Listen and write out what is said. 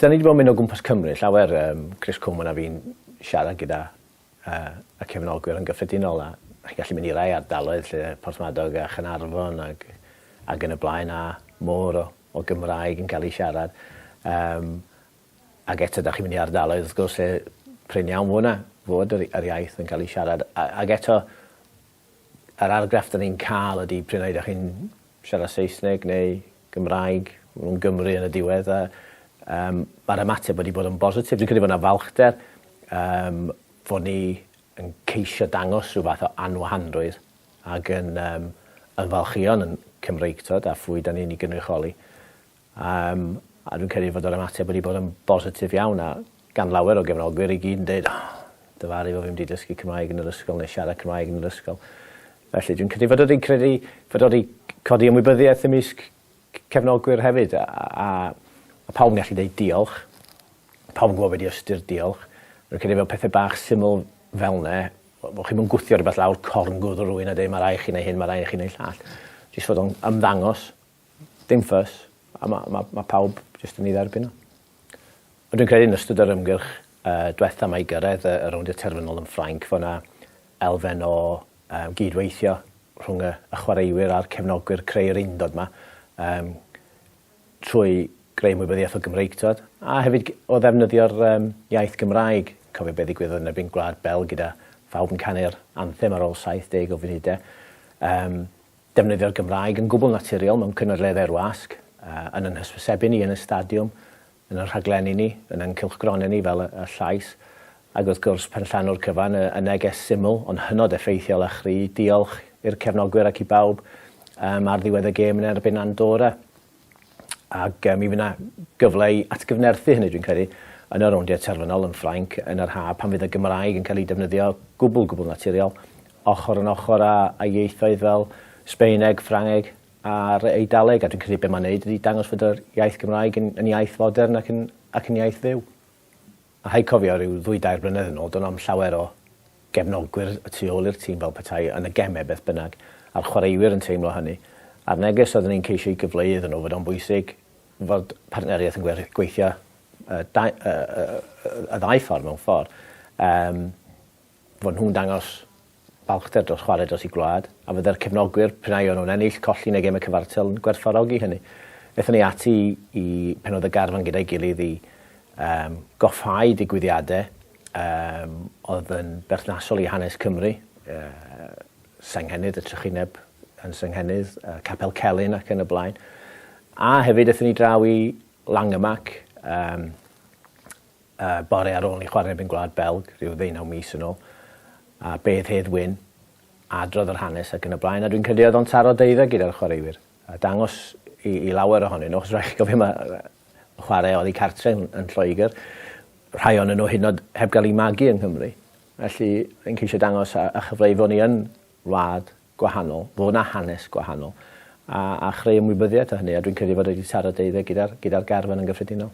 Dan ni 'di bod yn mynd o gwmpas Cymru llawer, yym Chris Coleman a fi'n siarad gyda yy y cefnogwyr yn gyffredinol a chi'n gallu mynd i rai ardaloedd lle Porthmadog a Chanarfon ag ag yn y blaen a môr o o Gymraeg yn cael ei siarad yym ag eto 'dach chi'n mynd i ardaloedd wrth gwrs lle prin iawn fo' 'na fod yr yr iaith yn cael ei siarad a ag eto Yr argraff 'da ni'n ca'l ydi prin ai 'da chi'n siarad Saesneg neu Gymraeg, ma' nw'n Gymry yn y diwedd a yym ma'r ymateb wedi bod yn bositif. Dwi'n credu bo' 'na falchder yym fod ni yn ceisio dangos rhyw fath o anwahanrwydd ag yn yym yn falchio'n yn Cymreictod a phwy 'da ni'n 'i gynrychioli. Yym, a dwi'n credu fod yr ymateb wedi bod yn bositif iawn, a gan lawer o gefnogwyr i gyd yn deud, O, difaru fo fi'm 'di dysgu Cymraeg yn yr ysgol neu siarad Cymraeg yn yr ysgol. Felly, dwi'n credu fod o 'di credu fod o 'di codi ymwybyddiaeth ymysg c- cefnogwyr hefyd, a, a, a pawb yn gallu deud diolch. Pawb yn gwybod be' 'di ystyr diolch. Dwi'n credu fel pethe bach syml fel 'ne, bo' bo' chi'm yn gwthio rwbeth lawr corn gwddw rywun a deud ma' rai' chi neu' hyn ma' rai' i chi neu' llall. Jyst fod o'n ymddangos. Dim fuss a ma' ma' ma' pawb jyst yn 'i dderbyn o. Ond dwi'n credu yn ystod yr ymgyrch yy dwetha 'ma i gyrredd y y rowndiau terfynol yn Ffrainc fo' 'na elfen o yym gyd-weithio rhwng y y chwaraewyr a'r cefnogwyr creu yr undod 'ma yym trwy greu ymwybyddiaeth o Gymreig t'wod? A hefyd g- o ddefnyddio'r yym iaith Gymraeg. Cofio be' ddigwyddodd yn erbyn Gwlad Belg gyda phawb yn canu'r anthem ar ôl 70 o funude yym Defnyddio'r Gymraeg yn gwbl naturiol mewn cynadleddau'r wasg, yn ein hysbysebu ni, yn y stadiwm, yn ein rhaglenni ni, yn ein cylchgronau ni fel Y Llais, ac wrth gwrs, pan llanw'r cyfan, y neges syml ond hynod effeithiol a chry, 'Diolch' i'r cefnogwyr ac i bawb, ar ddiwedd y gêm yn erbyn Andorra. ac mi fydd yna gyfle i atgyfnerthu hynny dwi'n credu yn y rowndiau terfynol yn Ffrainc yn yr haf pan fydd y Gymraeg yn cael ei defnyddio gwbl gwbl naturiol ochr yn ochr â, â ieithoedd fel Sbaeneg, Ffrangeg a'r Eidaleg a dwi'n credu be mae'n neud ydy dangos fod yr iaith Gymraeg yn, yn iaith fodern ac yn, ac yn iaith fyw. A rhaid cofio, rhyw ddwy dair blynedd yn ôl, do'n o'm llawer o gefnogwyr y tu ôl i'r tîm fel petai yn y gemau beth bynnag, a'r chwaraewyr yn teimlo hynny, a'r neges oeddwn i'n ceisio i gyfleu iddyn nhw fod o'n bwysig fod partneriaeth yn gweithio y ddau ffordd mewn ffordd. Yym. fod nhw'n dangos balchder dros chwarae dros eu gwlad, a fydde'r cefnogwyr, pe naïon nhw'n ennill, colli yn y gemau cyfartal, yn gwerthfawrogi hynny. Aethon ni ati i Penodd y Garfan gyda'i gilydd i um, goffáu digwyddiadau um, oedd yn berthnasol i hanes Cymru, uh, Senghennydd y Trychineb yn Senghennydd, uh, Capel Celyn ac yn y blaen. A hefyd aethon ni draw i Langemak, um, y bore ar ôl ni chwarae erbyn Gwlad Belg rhyw ddeunaw mis yn ôl, a beth Hedd Wyn, adrodd yr hanes ac yn y blaen, a dwi'n credu oedd o'n taro deuddo gyda'r chwaraewyr, a dangos i, i lawer ohonyn nhw, achos rhaid chi gofio mae chwarae oddi cartre yn, yn Lloegr, rhai o'n nhw hyn oed heb gael ei magu yng Nghymru. Felly, yn ceisio dangos a, a chyfleu fod ni yn wlad gwahanol, fod yna hanes gwahanol, a, a chreu ymwybyddiaeth o hynny, a dwi'n credu fod wedi taro deuddo gyda'r gyda garfan yn gyffredinol.